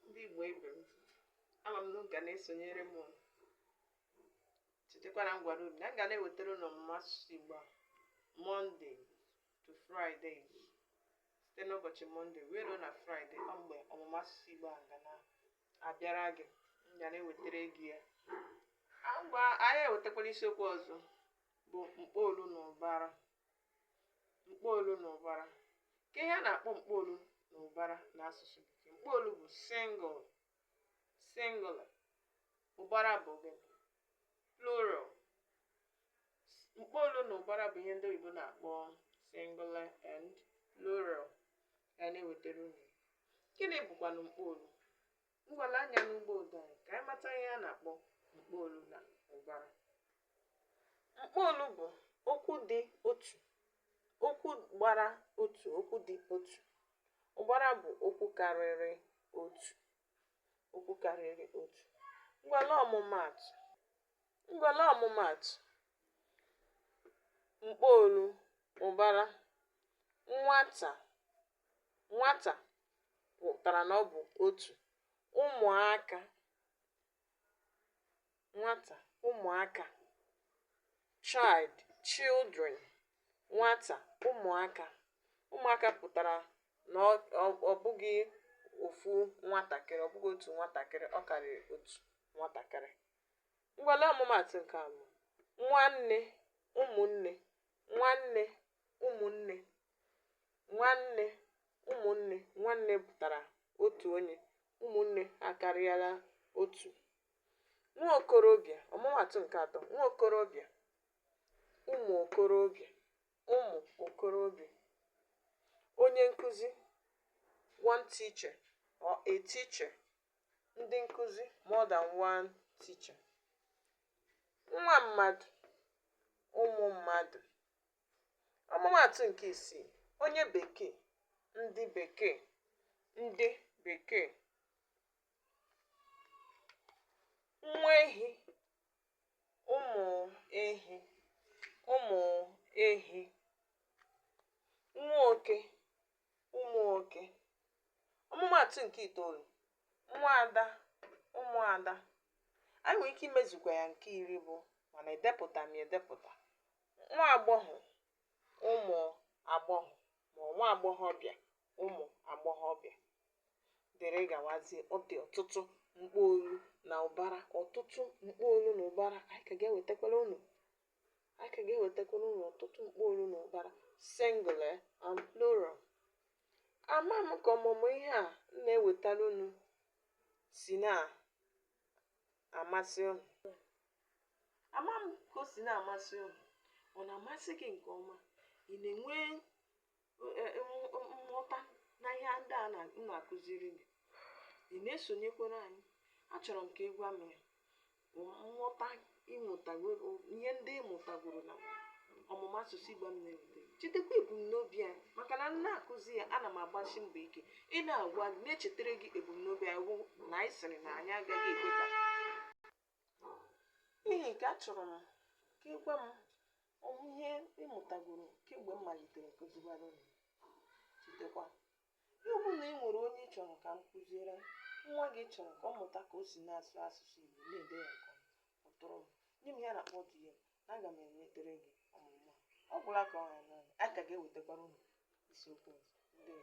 ndị Igbo ibe m ama m na unu ga na-esonyere m. unu chetakwara na m gwara unu na m ga na-ewetara unu ọmụmụ asụsụ Igbo a mọnde to fraịde site n'ụbọchị mọnde wee ruo na fraịde ọ mgbe ọmụmụ asụsụ Igbo a ga na-abịara gị m ga na-ewetara gị ya ngwa anyị ewetakwala isiokwu ọzọ bụ mkpọolu na ụbara mkpọolu na ụbara kee ihe a na-akpọ mkpọolu na ụbara n'asụsụ bekee mkpọolu bụ singular singular ụbara bụ gị plural mkpọolu na ụbara bụ ihe ndị oyibo na-akpọ singular and plural ya na-ewetara unu gịnị bụkwanụ mkpọolu ngwa lee anya n'ugbo ụdọ anyị ka anyị mata ihe a na-akpọ mkpọolu na ụbara mkpọolu bụ okwu dị otu okwu gbara otu okwu dị otu ụbara bụ okwu karịrị otu okwu karịrị otu ngwa lee ọmụmaatụ ngwa lee ọmụmaatụ mkpọolu ụbara nwata nwata pụtara na ọ bụ otu ụmụaka nwata ụmụaka child children nwata ụmụaka ụmụaka pụtara na ọ ọ- ọ bụghị ofu nwatakịrị ọ bụghị otu nwatakịrị ọ karịrị otu nwatakịrị ngwa lee ọmụmaatụ nke abụọ nwanne ụmụnne nwanne ụmụnne nwanne ụmụnne nwanne pụtara otu onye ụmụnne akarịala otu nwa okorobịa ọmụmaatụ nke atọ nwa okorobịa ụmụ okorobịa ụmụ okorobịa onye nkụzi one teacher or a teacher ndị nkụzi more than one teacher nwa mmadụ ụmụ mmadụ Ọmụmaatụ nke isii, onye Bekee, ndị Bekee, ndị Bekee. Nwa ehi, ụmụ ehi, ụmụ ehi. Nwa oke, ụmụ oke. Ọmụmaatụ nke itoolu, nwa ada, ụmụ ada. Anyị nwere ike imezukwa ya nke iri bụ mana edepụta m ya edepụta. nwa agbọghọ ụmụ agbọghọ ma nwa agbọghọbịa ụmụ agbọghọbịa dịrị gawazie ọ dị ọtụtụ mkpọolu na ụbara ọtụtụ mkpọolu na ụbara anyị ka ga-ewetakwara unu anyị ka ga-ewetakwara unu ọtụtụ mkpọolu na ụbara singular and plural ama m ka ọmụmụ ihe a m na-ewetara unu si na amasị unu ama m ka o si na-amasị unu ọ na-amasị gị nke ọma ị na-enwe e, e, nghọta na ihe ndị a na-akụziri gị ị na-esonyekwere anyị achọrọ m ka ị gwa m ya nghọta ihe ndị ị mụtagoro na ọmụmụ asụsụ Igbo m na-eweta chetakwa ebumnobi anyị maka na m na-akụzi ya ana m agbasi mbọ ike ị na-agwa gị na-echetara gị ebumnobi anyị wụ na anyị sịrị na anyị agaghị ekwe ka n'ihi nke achọrọ m ka ị gwa m ụmụ ihe ị mụtagoro kemgbe m malitere kụziwara unu chetakwa Ya ọ bụrụ na ị nwere onye ị chọrọ ka m kụziere nwa gị ị chọrọ ka ọ mụta ka o si na-asụ asụsụ Igbo na-ede ya nke ọma kpọtụrụ m nye m ya na kpọtụrụ m na aga m ewetere gị ọmụmụ a ọ gwụla ka ọ ha anyị ka ga-ewetakwara unu isiokwu ọzọ ndewo